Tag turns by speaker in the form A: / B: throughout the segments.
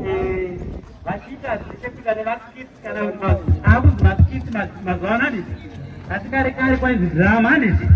A: eh, vachiita zvichekuita nemaskits kana akuzi maskits mazuva ano handiti asi kare kare kwainzi drama handiti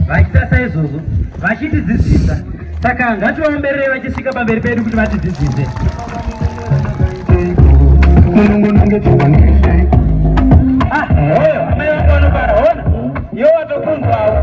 A: vachiita saizvozvo vachitidzidzisa saka ngativaomberere vachisvika pamberi pedu kuti vatidzidzise ah, oyo amai vakaonobara ona yo watokunzwawo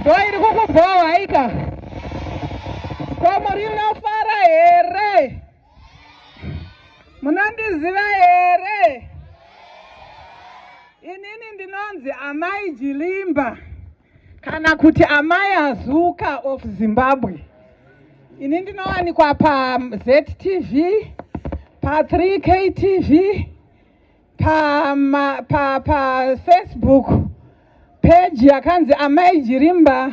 B: Ndo iri kukubhowa haika? Gomo rinofara here? Munondiziva here? Inini ndinonzi Amai Jilimba kana kuti Amai Azuka of Zimbabwe. Ini ndinowanikwa paZTV, pa3KTV, pama pa, pa Facebook page yakanzi Amai Jirimba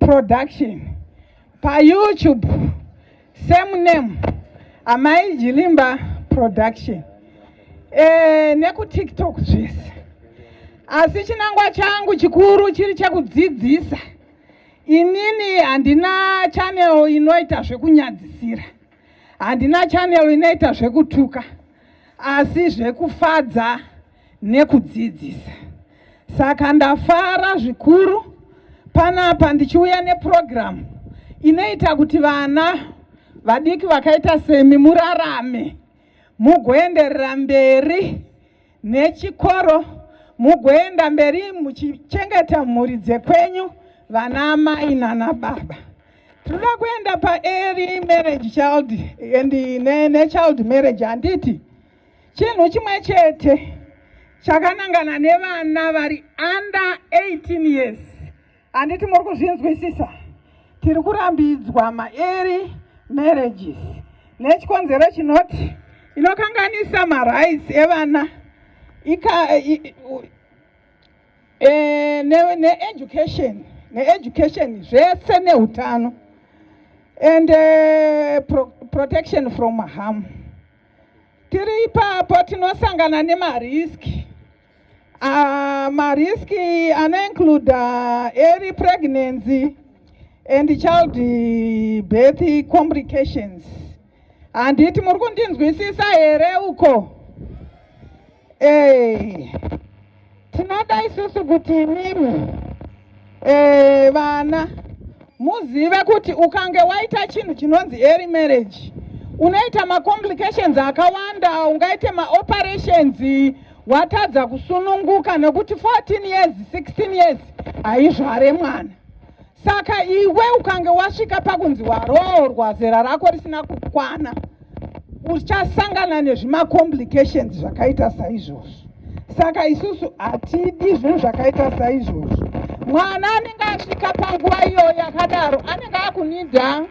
B: Production pa YouTube same name Amai Jirimba Production e, neku TikTok zvese asi chinangwa changu chikuru chiri chekudzidzisa inini handina channel inoita zvekunyadzisira handina channel inoita zvekutuka asi zvekufadza nekudzidzisa. Saka ndafara zvikuru panapa ndichiuya nepurogiramu inoita kuti vana vadiki vakaita semi murarame mugoenderera mberi nechikoro mugoenda mberi muchichengeta mhuri dzekwenyu vana amai nana baba. tinoda kuenda paearly marriage child and nechild ne marriage handiti chinhu chimwe chete chakanangana nevana vari under 18 years handiti muri kuzvinzwisisa tiri kurambidzwa maearly marriages nechikonzero chinoti inokanganisa marights evana ika, i, u, Eh, needucation ne needucation zvese neutano and uh, pro protection from harm tiri ipapo tinosangana nemariski uh, ah, mariski anoincluda uh, early pregnancy and child birth complications Handiti muri kundinzwisisa here uko? Eh. Tinoda isusu kuti imimi eh vana muzive kuti ukange waita chinhu chinonzi early marriage unoita macomplications akawanda ungaite maoperations watadza kusununguka nekuti 14 years 16 years haizvare mwana Saka iwe ukange wasvika pakunzi waroorwa zera rako risina kukwana, uchasangana nezvimacomplications zvakaita saizvozvo. Saka isusu hatidi zvinhu zvakaita saizvozvo. Mwana anenge asvika panguva iyoyo yakadaro anenge akunida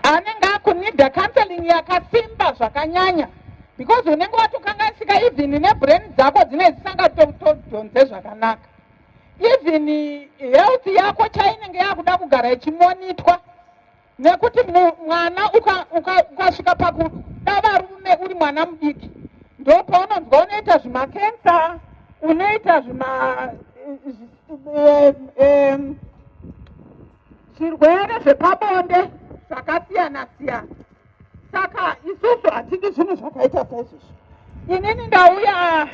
B: anenge akunida counseling yakasimba zvakanyanya because unenge watokanganisika even nebrain dzako dzine dzisangatodhonze zvakanaka even health yako chainenge yakuda kugara ichimonitwa nekuti mwana ukasvika pakuda varume uri mwana mudiki ndo paunonzwa unoita zvimakensa unoita zvima eh, eh, eh, Zvirwere zvepabonde zvakasiyana siyana, saka isusu hatidi zvinhu zvakaita saizvozvo. Inini ndauya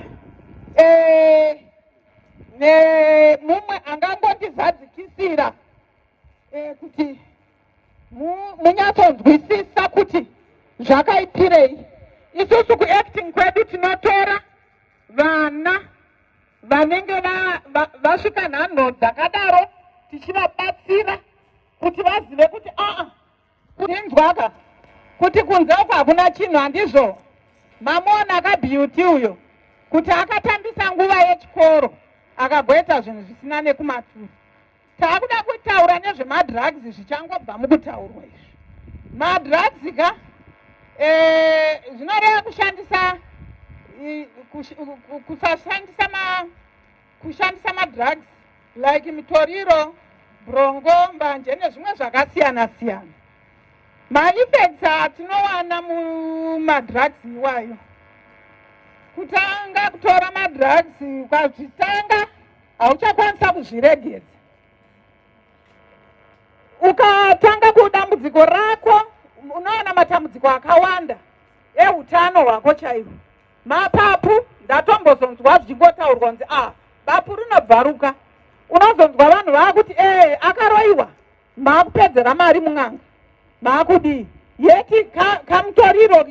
B: eh, nemumwe angangondizadzikisira eh, kuti munyatsonzwisisa kuti zvakaitirei. Isusu kuacting kwedu tinotora vana vanenge vasvika nhanho dzakadaro tichivabatsira kuti vazive kuti aa kuinzwaka kuti kunze uko hakuna chinhu handizvo mamuona akabeauty uyo kuti akatambisa nguva yechikoro akagoita zvinhu zvisina nekumaturi takuda kutaura nezvemadrugs zvichangobva mukutaurwa izvi madrugs ka eh, zvinoreva kushandisa kusashandisa ma kushandisa madrugs like mitoriro brongo mbanje nezvimwe zvakasiyana siyana maifects atinowana mumadrugs iwayo kutanga kutora madrugs ukazvitanga hauchakwanisa kuzviregedza ukatanga kudambudziko rako unoona matambudziko akawanda eutano hwako chaivo mapapu ndatombozonzwa zvichingotaurwa kunzi ah bapu rinobvaruka unozonzwa vanhu vaakuti ee eh, akaroiwa maakupedzera mari mun'anga maakudii yeti kamutoriro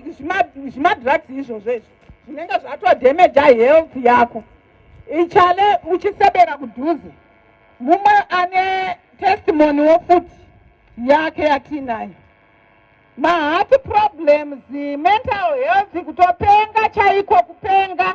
B: zvimadrugs izvozvo izvo zvinenge zvatodamaja health yako ichale uchisebera kudhuze mumwe ane testimony wo futi yake yatiinayo mahati problems mental health kutopenga chaiko kupenga